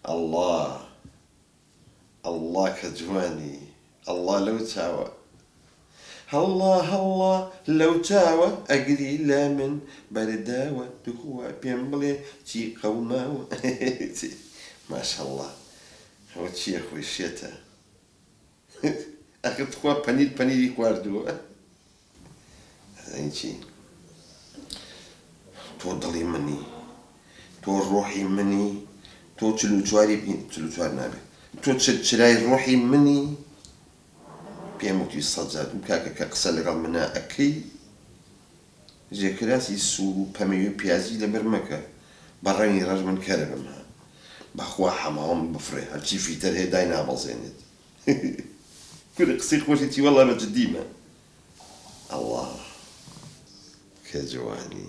ئەڵا ئەڵا کە جوانی ئەڵا لەو چاوە هەڵا هەڵا لەو چاوە ئەگری لە من بەرداوە توخوا پێم بڵێ چی قەوماوە ماشەڵا ئەوە چییە خۆی شێتە. ئەخر تخوا پەنیر پەنیری خواردووە ئەزانی چی تۆ دڵی منی تۆ ڕۆحی منی تۆ چل و چواری چل و چوار نابێت تۆ چل چرای ڕۆحی منی پێم وتی سەجاد و کاکە کە قسە لەگەڵ منە ئەکەی جێکراسی سوور و پەمەیو پیازی لەبەر مەکە بە ڕەنگی ڕەش من کەربم ها بەخوا حەماوەم بفڕێ هەرچی فیتەر هەیە دای نابەزێنێت کورە قسەی خۆشی چی وەڵا بە جدیمە ئەڵا کە جوانی.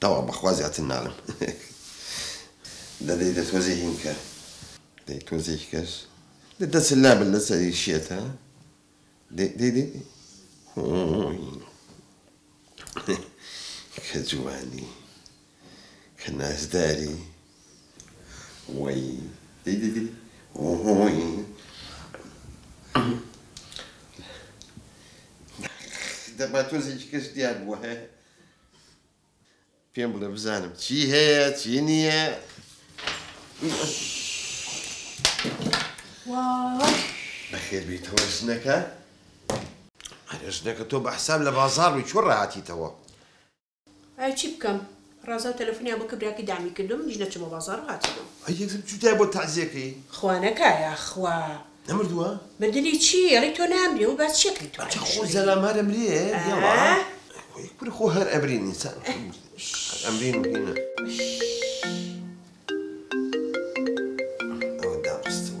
تەواو بەخوا زیاتر نالم دەدەیتە تۆزێ هینکە دەی تۆزێکی کەس دەچ لابل لە سەری شێتە کە جوانی کە نازداری وەی دەی دەی دەی وووی دەبا تۆزێکی کەس دیار بووە هەیە پێم بڵێ بزانم چی هەیە چی نییە بەخێر بیتەوە ژنەکە ئەرێ ژنەکە تۆ بە حساب لە بازار بووی چۆ ڕاهاتیتەوە ئای چی بکەم ڕەزا تەلەفونیان بۆ کرد براکەی دامی کردووە منیش نەچوومە بازاڕ و هاتوومەوە. ئەی یەکسەر چوویتایە بۆ تەعزیەکەی. خوا نەکا یاخوا. نەمردووە؟ مردنی چی ئەڵێی تۆ نامری ئەوە باسی چی ئەکەی تۆ ئەی خۆ زەلام هەر ئەمرێ یەڵا ئەی خۆ هەر ئەمرین ئینسان هەر ئەمرین و هینا ئەوە دابەستن.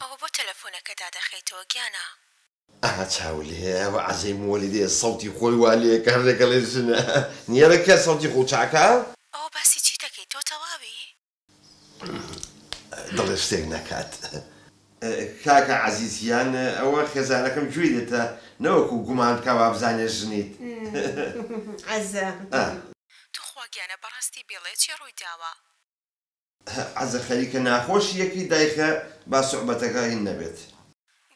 ئەوە بۆ تەلەفۆنەکە دادەخەیتەوە گیانە. ئەها چاو لێیە ئەوە عەزێی موەلیدەیە سەوتی خۆی وا لێیە کە هەر دەگەڵێ ژنە نیەرە کە سەوتی خۆو چاکە. ئەوە باسی چی دەکەی تۆ تەواوی. دڵێ شتێک نەکات کاکە عەزیز گیان ئەوە خێزانەکەم گوێی لێتە نەوەکو گومان بکا وابزانێ ژنیت عەزە. توخوا گیانە بەڕاستی بێڵێ چی ڕووی داوە. هئ عەزە خەریکە ناخۆشی یەکەی دایخە با سوعبەتەکە هین نەبێت.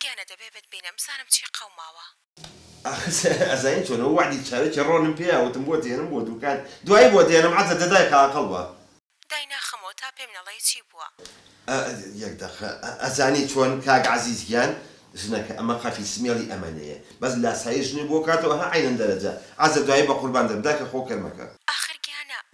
گیانە دەبێ بت بینم بزانم چی قەوماوە. ئاخر ئەزانی چۆنە و وەعدی چاوێکی ڕۆنم پێیا وتم بۆت دێنم بۆ دوکان دوایی بۆت دێنم عەزە دە دایخە ئاقڵ بە. دای ناخەمەوە تا پێم نەڵێی چی بووە. ئئ یەک دەقە ئەزانی چۆن کاک عەزیز گیان ژنەکە ئەمە قەفی سمێڵی ئەمەنێیە بەس لاسایی ژنی بۆ کاتەوە هئ عەینەن دەرەجە عەزە دوایی بەقوربان دەم دایخە خۆ کەر مەکە. ئاخر گیانە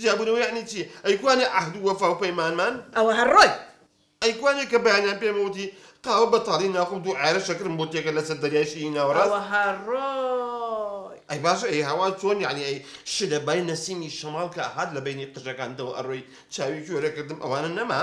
جیابوونەوە یەعنی چی؟ ئەی کوانێ عەهد و وەفا و پەیمانمان؟ ئەوە هەر ڕۆیت. ئەی کوانێ کە بەیانیان پێمە وتی قاوە بەتاڵی ناخۆم دوو عەیارە شەکرم بۆ تێکە لەسەر دەریای شیری ناوەڕاست؟ ئەوە هەر ڕۆیت. ئەی باشە ئەی هەوا چۆن یەعنی ئەی شلەبای نەسیمی شەماڵ کە ئەهات لە بەینی قژەکانتەوە ئەڕۆی چاوی کێرە کردم ئەوانە نەما؟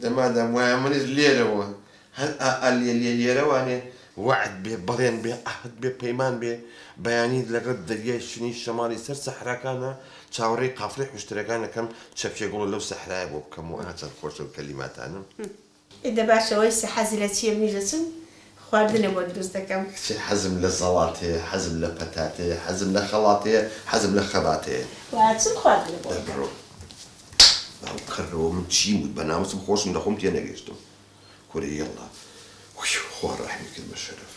دە مادام وایە منیش لێرەوە هەر ئا ئا لێ لێ لێرەوانێ وەعد بێ بەڵێن بێ عەهد بێ پەیمان بێ بەیانی لەگەڵ دەریای شنی شەماڵی سەر سەحراکانا چاوەڕێی قافڵەی حوشترەکان ئەکەم چەپکێ گوڵە لەو سەحرایە بۆ بکەم و ئا چەند خۆشە ئەو کەلیماتانەم. ئێ دە باشە وەیسە حەزی لە چییە منیش دەچم خواردنە بۆ دروست دەکەم. کچێ حەزم لە زەڵات هەیە حەزم لە پەتات هەیە حەزم لە خەڵات هەیە حەزم لە خەبات هەیە. وە ئەچم خواردنە بۆ ئەکەم. بەربڕۆ باو کەرەوە من چیم وت بە ناموسم خۆشم لە خۆم تێ نەگەشتم کورە یەڵا ویو خوا ڕەحمی کرد بە شەرەف.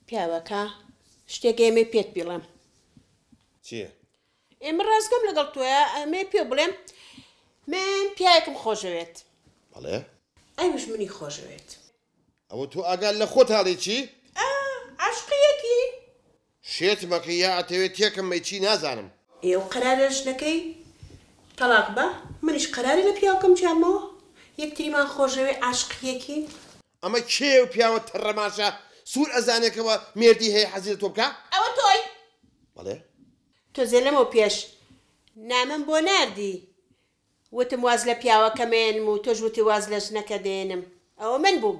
پیاوەکە، شتێک ئێمەی پێت بیڵێم چیە؟ ئێمە ڕاستگەم لەگەڵ تۆە ئەمێ پێ بڵێم من پیاەکم خۆشەوێت بەڵێ ئەوش منی خۆشەوێت ئەوە تۆ ئاگال لە خۆت هاڵێکی؟ عاشقیەکی شێت مەکە یا ئەتەوێ تێکم بەی چی نازانم. ئێو قەرارە ژنەکەی تەڵاق با منیش قەرارە لە پیاوکەم جیابمەوە یەکتریمان خۆشەوێ عاشقی یەکین. ئەمە کێیە و پیاوە تەڕە ماشە سور ئەزانێ کە وە مێردی هەیە حەزی لە تۆ بکا. ئەوە تۆی؟ بەڵێ. تۆزێ لەمەو پێش نامەم بۆ ناردی وتم واز لە پیاوەکە مەیەنم و تۆش وتی واز لە ژنەکە دەیەنم ئەوە من بووم.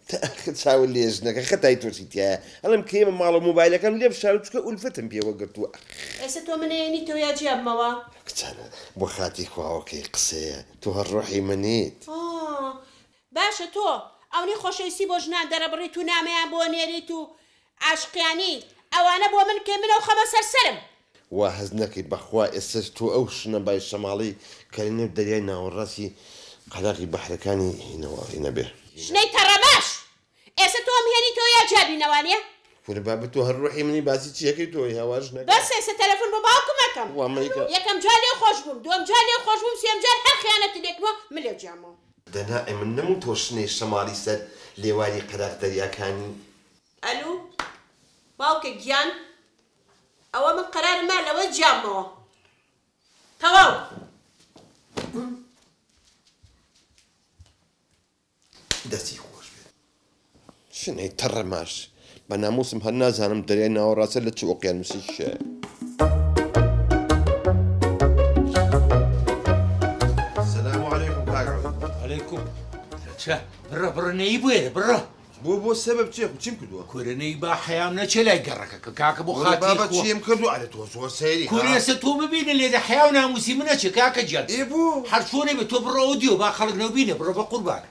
تاخە چاوە لێ ژنەکە خەتای تۆچی تیایە ئەڵێم کرێمە ماڵەو مۆبایلەکەم لێ بشارە چونکە ئولفەتم پێوە گرتووە ئەخ. ئێسە تۆ من ئەیەنیتەوە یا جیابمەوە. کچانە بۆ خاتری خواوە کەی قسەیە تۆ هەر ڕۆحی منیت. ئا باشە تۆ ئەونەی خۆشەویستی بۆ ژنان دەرەبڕیت و نامەیان بۆ نێریت و عاشقیانی ئەوانە بۆ من کەی من ئەو خەمە سەر سەرم. وا هەست نەکەی بەخوا ئێستەش تۆ ئەو شنە بای شەماڵی کەری نێو دەریای ناوەڕاستی قەراغی بەحرەکانی هینەوە هینە بێ. شنەی تەڕە باش ئێستە تۆم هێنیتەوە یا جا بینەوانیە. کورە بابە تۆ هەر ڕوحی منی باسی چی ئەکەی تۆ هاوار ژنەکە. بەس ئێستە تەلەفون بۆ باوکم ئەکەم. وا مەیکە. یەکەم جار لێو خۆش بووم دووەم جار لێو خۆش بووم سێم جار هەر خیانەتت لێکردمەوە من لێو جیامەوە. دەنا ئەی من نەم و تۆ شنەی شەماڵی سەر لێواری قەراغ دەریاکانی. ئەلو باوکە گیان ئەوە من قەرارم نا لەوە جیام بەوە تەواو. دەستی خۆش بێت سنەی تەڕە ماش. بە ناموسم هەر نازانم دەریای ناوەڕاستە لە چ ئۆقیانوسێکی شایە. چە بڕە بڕنەی بێرە بڕە بۆ بۆ سەبەب چێ چیم کردووە کورەنەی با حەیام نەچێ لای گەڕەکە کە کاکە بۆ خاتبابە چیم کردو ئەرە تۆ زۆر سەیری کورێسە تۆ ببینە لێدە حەیاو ناموسی منە چێ کاکە جیان ئێ بوو هەرچۆنێ بێ تۆ بڕەوە دیۆ با خەڵک نەو بینە بڕە بە قوربانە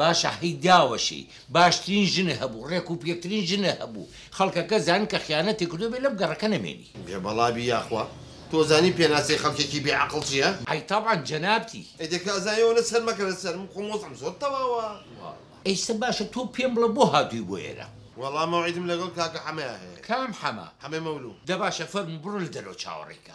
باشە هەی داوەشێی باشترین ژنە هەبوو ڕێک و پێکترین ژنە هەبوو خەڵکەکە زان کە خیانەتی کردوە بێ لەم گەڕەکە نەمێنی. بێ بەڵا بی یاخوا تۆ زانی پێناسەی خەڵکێکی بێ عەقڵ چیە؟ ئەی تەبعەن جەنابتی. ئەی دە کازان یەوە نە سەر مەکە لە سەر من خۆم وەزعم زۆر تەواوە. ئێستا باشە تۆ پێم بڵە بۆ هاتووی بۆ ئێرە؟ وەڵا مەوعیدم لەگەڵ کاکە حەمەیا هەیە. کام حەمە؟ حەمەی مەولوو. دە باشە فەرموو بڕۆ لە دەرەوە چاوەڕێی کە.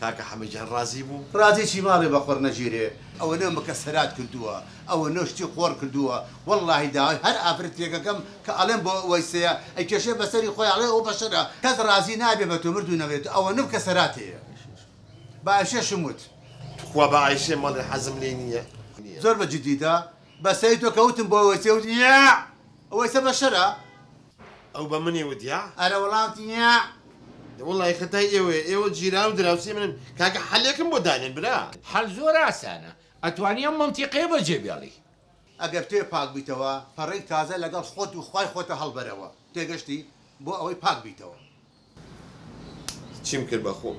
کاکە حەمە گیان ڕازی بوو. ڕازی چی ماڵێ بە قۆڕ نەگیرێ. ئەوەنە مکە سەرات کردووە ئەوەنە شتی قۆڕ کردووە وەڵاهی داوای هەر ئافرەتێک ئەکەم کە ئەڵێم بۆ وەیسەیە ئەیکێشێ بەسەری خۆی ئەڵێ ئەو بەشەرە کەس ڕازی نابێ بە تۆ مردوو نەبێت ئەوەنە مکە سەرات هەیە بە ئەشێشم وت. توخوا بە ئایشێ مەڵێ حەزم لێی نییە. زۆر بە جدی دا بە سەری تۆ کە وتم بۆ وەیسێ وتی یاع وەیسە بەشەرە. ئەو بە منی وت یاع. ئەرە وڵاتی یاع. دە وەڵای خەتای ئێوەیە ئێوە جیراو دراوسێ منن کاکە حەلێکم بۆ دانێن برا. حەل زۆر ئاسانە ئەتوانی ئەم مەنتیقەیە بەجێ بێڵی. ئەگەر تۆێ پاک بیتەوە پەڕەی تازە لەگەڵ خۆت و خوای خۆتە هەڵبەرەوە تێگەشتی بۆ ئەوەی پاک بیتەوە. چیم کرد بەخۆم.